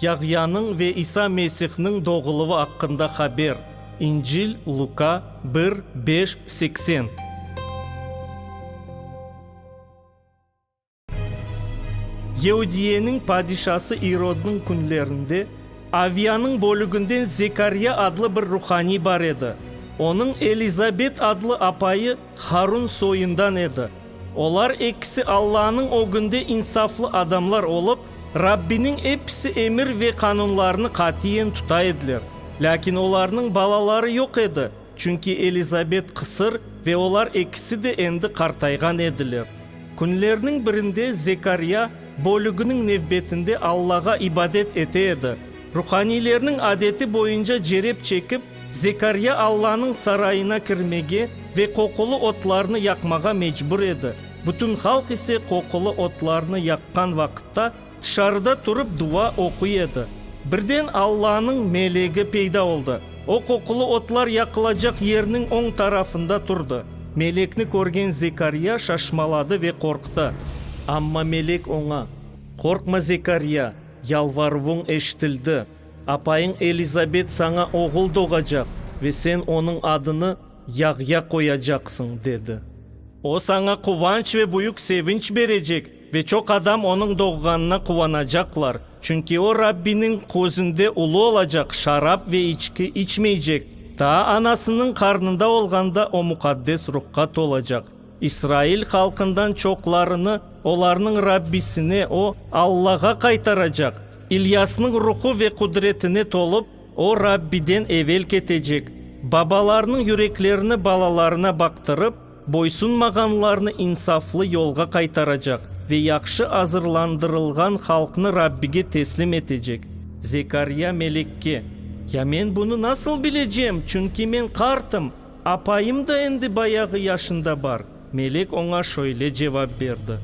Yahyanıñ ve İsa Mesihniñ doğuluvı aqqında haber, İncil, Luka, bir, beş, seksen. Yeudiyeniñ padişası İrodnıñ künlerinde Aviyanıñ bölüginden Zekarya adlı bir ruhaniy bar edi. Onıñ Elizabet adlı apayı Harun soyundan edi. Olar ekisi Allanıñ ögünde insaflı adamlar olıp, Rabbiniñ episi emir ve qanunlarını qatiyen tuta ediler. Lâkin olarnıñ balaları yoq edi, çünki Elizabet qısır ve olar ekisi de endi qartayğan ediler. Künlerniñ birinde Zekarya bölüginiñ nevbetinde Allağa ibadet ete edi. Ruhaniylerniñ adeti boyunca cerep çekip, Zekarya Allanıñ sarayına kirmege ve qoqulı otlarnı yaqmağa mecbur edi, bütün halq ise qoqulı otlarnı yaqqan vaqıtta tışarıda turıp dua oquy edi. Birden Allanıñ melegi peyda oldı, o qoqulı otlar yaqılacaq yerniñ oñ tarafında turdı. Melekni körgen Zekarya şaşmaladı ve qorqtı. Amma melek oña, Qorqma, Zekarya, yalvaruvuñ eşitildi. Apayıñ Elizabet saña oğul doğacaq ve sen onıñ adını Yahya qoyacaqsıñ, dedi. O, saña quvanç ve büyük sevinç berecek ve çoq adam onıñ doğğanına quvanacaqlar, çünki o, Rabbiniñ közünde ulu olacaq, şarap ve içki içmeycek, taa anasınıñ qarnında olğanda o Muqaddes Ruhqa tolacaq. İsrail halqından çoqlarını olarnıñ Rabbisine, o, Allağa qaytaracaq. İlyasnıñ ruhu ve qudretine tolıp, o Rabbiden evel ketecek, babalarnıñ yüreklerini balalarına baqtırıp, boysunmağanlarnı insaflı yolğa qaytaracaq ve yahşı azırlandırılğan halqnı Rabbige teslim etecek. Zekarya melekke, Ya men bunı nasıl bilecem, çünki men qartım? Apayım da endi bayağı yaşında bar. Melek oña şöyle cevap berdi,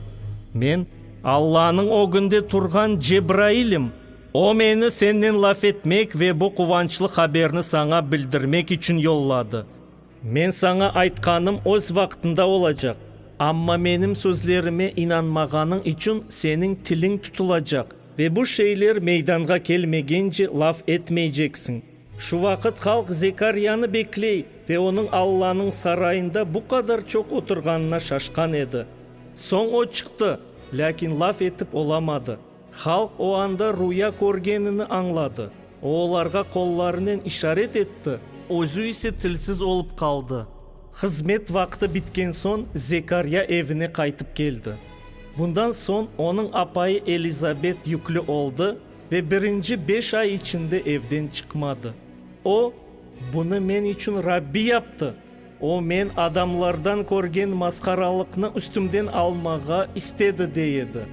Men, Allanıñ ögünde turğan Cebrailim. O meni sennen laf etmek ve bu quvançlı haberni saña bildirmek içün yolladı. Men saña aytqanım öz vaqtında olacaq, amma menim sözlerime inanmağanıñ içün seniñ tiliñ tutulacaq ve bu şeyler meydanğa kelmegence laf etmeyceksiñ. Şu vaqıt halq Zekaryanı bekley ve onıñ Allanıñ sarayında bu qadar çoq oturğanına şaşqan edi. Soñ o çıqtı, lâkin laf etip olamadı. Halq o anda rüya körgenini añladı, o olarğa qollarınen işaret etti, özü ise tilsiz olıp qaldı. Hızmet vaqtı bitken soñ Zekarya evine qaytıp keldi. Bundan soñ onıñ apayı Elizabet yüklü oldı, Ve birinci beş ay içinde evden çıqmadı. O, Bunı men içün Rabbi yaptı. O, men adamlardan körgen masqaralıqnı üstümden almağa istedi, dey edi.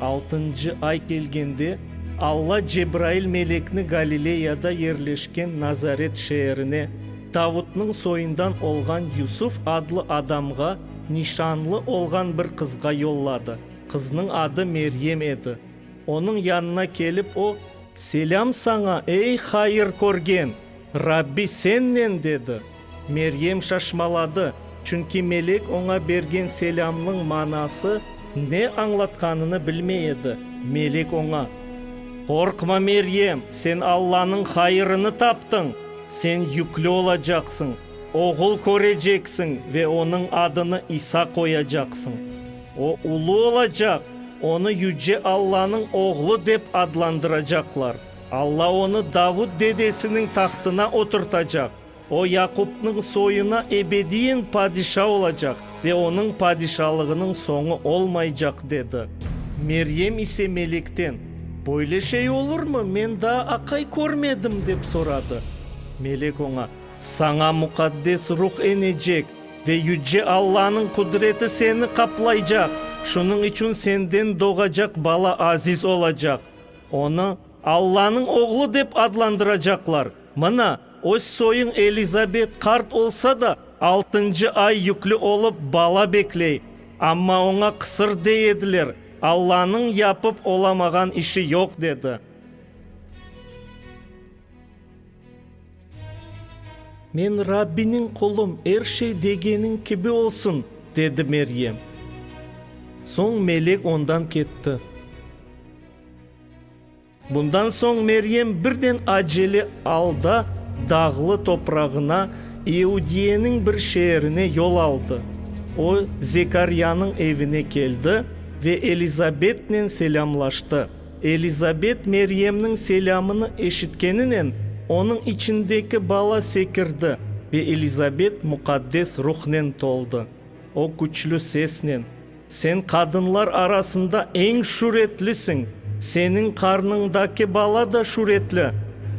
Altıncı ay kelgende, Alla Cebrail melekni Galileyada yerleşken Nazaret şeerine, Davutnıñ soyundan olğan Yusuf adlı adamğa, nişanlı olğan bir qızğa yolladı. Qıznıñ adı Meryem edi. Onıñ yanına kelip, o, Selâm saña, ey hayır körgen! Rabbi sennen! dedi. Meryem şaşmaladı, çünki melek oña bergen selâmnıñ manası ne añlatqanını bilmey edi. Melek oña, Qorqma, Meryem, sen Allanıñ hayırını taptıñ! Sen yükli olacaqsıñ, oğul köreceksiñ ve onıñ adını İsa qoyacaqsıñ. O ulu olacaq, onı Yüce Allanıñ Oğlu dep adlandıracaqlar. Alla onı Davut dedesiniñ tahtına oturtacaq. O Yaqupnıñ soyuna ebediyen padişa olacaq ve onıñ padişalığınıñ soñu olmaycaq, dedi. Meryem ise melekten, Böyle şey olurmı, men daa aqay körmedim? dep soradı. Melek oña, Saña Muqaddes Ruh enecek, Ve Yüce Allanıñ qudreti seni qaplaycaq, şunıñ içün senden doğacaq bala aziz olacaq. Onı Allanıñ Oğlu dep adlandıracaqlar. Mına, öz soyuñ Elizabet qart olsa da, altıncı ay yüklü olıp, bala bekley. Amma oña qısır dey ediler, Allanıñ yapıp olamağan işi yoq, dedi. Men Rabbiniñ qulum, er şey degeniñ kibi olsun, dedi Meryem. Soñ melek ondan ketti. Bundan soñ Meryem birden acele alda dağlı toprağına, İudiyeniñ bir şeerine yol aldı. O, Zekaryanıñ evine keldi ve Elizabetnen selâmlaştı. Elizabet Meryemniñ selâmını eşitkeninen, onıñ içindeki bala sekirdi ve Elizabet Muqaddes Ruhnen toldı. O küçlü sesnen, Sen qadınlar arasında eñ şüretlisiñ, seniñ qarnıñdaki bala da şüretli!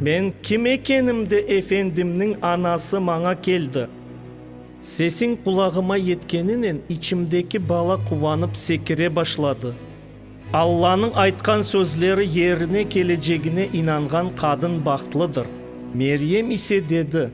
Men kim ekenimde Efendimniñ anası maña keldi? Sesiñ qulağıma yetkeninen, içimdeki bala quvanıp sekire başladı. Allanıñ aytqan sözleri yerine kelecegine inanğan qadın bahtlıdır. Meryem ise dedi,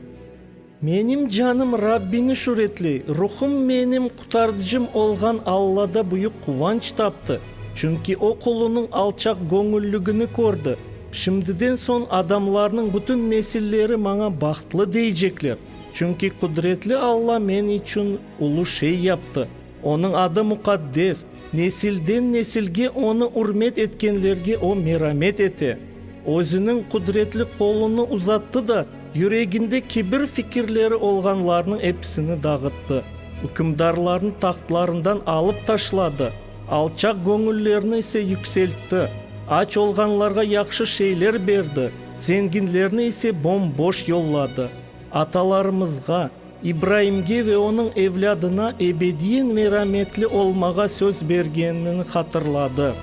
Menim canım Rabbini şüretley, ruhum menim Qutardıcım olğan Allada büyük quvanç taptı, çünki o qulunıñ alçaqgöñülligini kördi. Şimdiden soñ adamlarnıñ bütün nesilleri maña bahtlı deycekler, çünki Qudretli Alla men içün ulu şey yaptı. Onıñ adı muqaddes, nesilden-nesilge onı ürmet etkenlerge o meramet ete. Özüniñ qudretli qolunı uzattı da, yüreginde kibir fikirleri olğanlarnıñ episini dağıttı, ükümdarlarnı tahtlarından alıp taşladı, alçaq göñüllerni ise yükseltti, aç olğanlarğa yahşı şeyler berdi, zenginlerni ise bom-boş yolladı. Atalarımızğa, İbraimge ve onıñ evlâdına ebediyen merametli olmağa söz bergenini hatırladı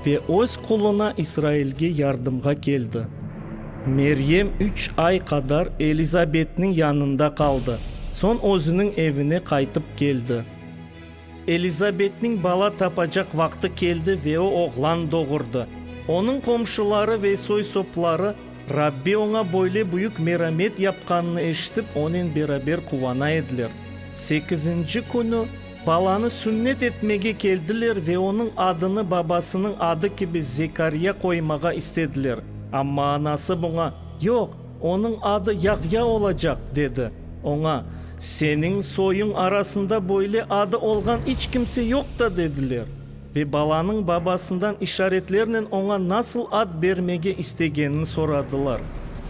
ve öz quluna İsrailge yardımğa keldi. Meryem üç ay qadar Elizabetniñ yanında qaldı, soñ özüniñ evine qaytıp keldi. Elizabetniñ bala tapacaq vaqtı keldi ve o oğlan doğurdı. Onıñ qomşuları ve soy-sopları Rabbi oña böyle büyük meramet yapqanını eşitip, onen beraber quvana ediler. Sekizinci künü balanı sünnet etmege keldiler ve onıñ adını babasınıñ adı kibi Zekarya qoymağa istediler, amma anası buña, Yoq, Onıñ adı Yahya olacaq, dedi. Oña, Seniñ soyuñ arasında böyle adı olğan iç kimse yoq da, dediler. Ve balanıñ babasından işaretlernen oña nasıl ad bermege istegenini soradılar.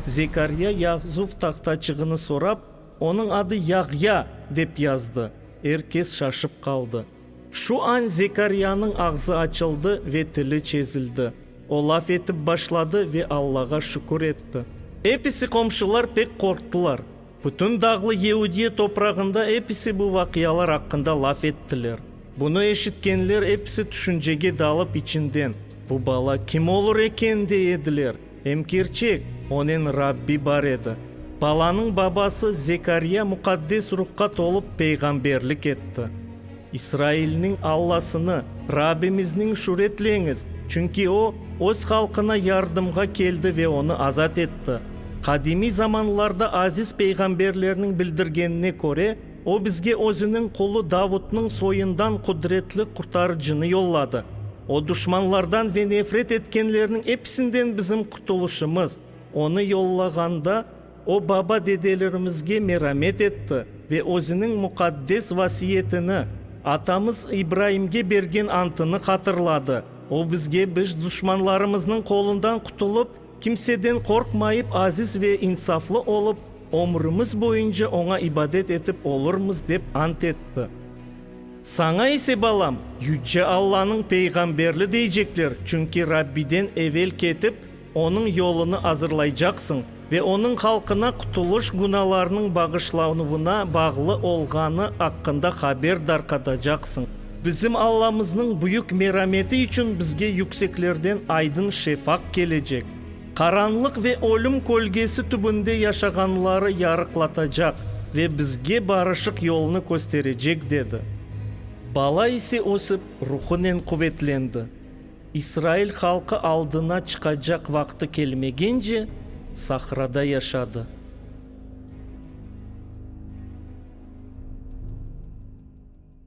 Zekarya yahzuv tahtaçığını sorap, Onıñ adı Yahya, dep yazdı. Er kes şaşıp qaldı. Şu an Zekariyanıñ ağzı açıldı ve tili çezildi. O laf etip başladı ve Allağa şükür etti. Episi qomşular pek qorqtılar. Bütün dağlı Yehudiye toprağında episi bu vaqialar aqqında laf ettiler. Bunı eşitkenler episi tüşüncege dalıp içinden, Bu bala kim olur eken? dey ediler. Em kerçek, onen Rabbi bar edi. Balanıñ babası Zekarya Muqaddes Ruhqa tolıp peyğamberlik etti, İsrailniñ Allasını, Rabbimizniñ şüretleñiz, çünki O, öz halqına yardımğa keldi ve onı azat etti. Qadimiy zamanlarda aziz peyğamberlerniñ bildirgenine köre, O bizge özüniñ qulu Davutnıñ soyundan qudretli Qurtarıcını yolladı. O duşmanlardan ve nefret etkenlerniñ episinden bizim qutulışımız. Onı yollağanda, o baba-dedelerimizge meramet etti ve özüniñ muqaddes vasiyetini, atamız İbraimge bergen antını hatırladı. O bizge biz duşmanlarımıznıñ qolundan qutulıp, Kimseden qorqmayıp, aziz ve insaflı olıp, ömrümiz boyunca oña ibadet etip olurmız, dep ant etti. Saña ise, balam, Yüce Allanıñ peyğamberli deycekler, çünki Rabbiden evel ketip, onıñ yolunı azırlaycaqsıñ ve onıñ halqına qutulış günalarnıñ bağışlanuvına bağlı olğanı aqqında haber darqatacaqsıñ. Bizim Allamıznıñ büyük merameti içün bizge yükseklerden aydın şefaq kelecek, qaranlıq ve ölüm kölgesi tübünde yaşağanları yarıqlatacaq ve bizge barışıq yolnı kösterecek, dedi. Bala ise ösip, ruhunen quvetlendi. İsrail halqı aldına çıqacaq vaqtı kelmegence, sahrada yaşadı.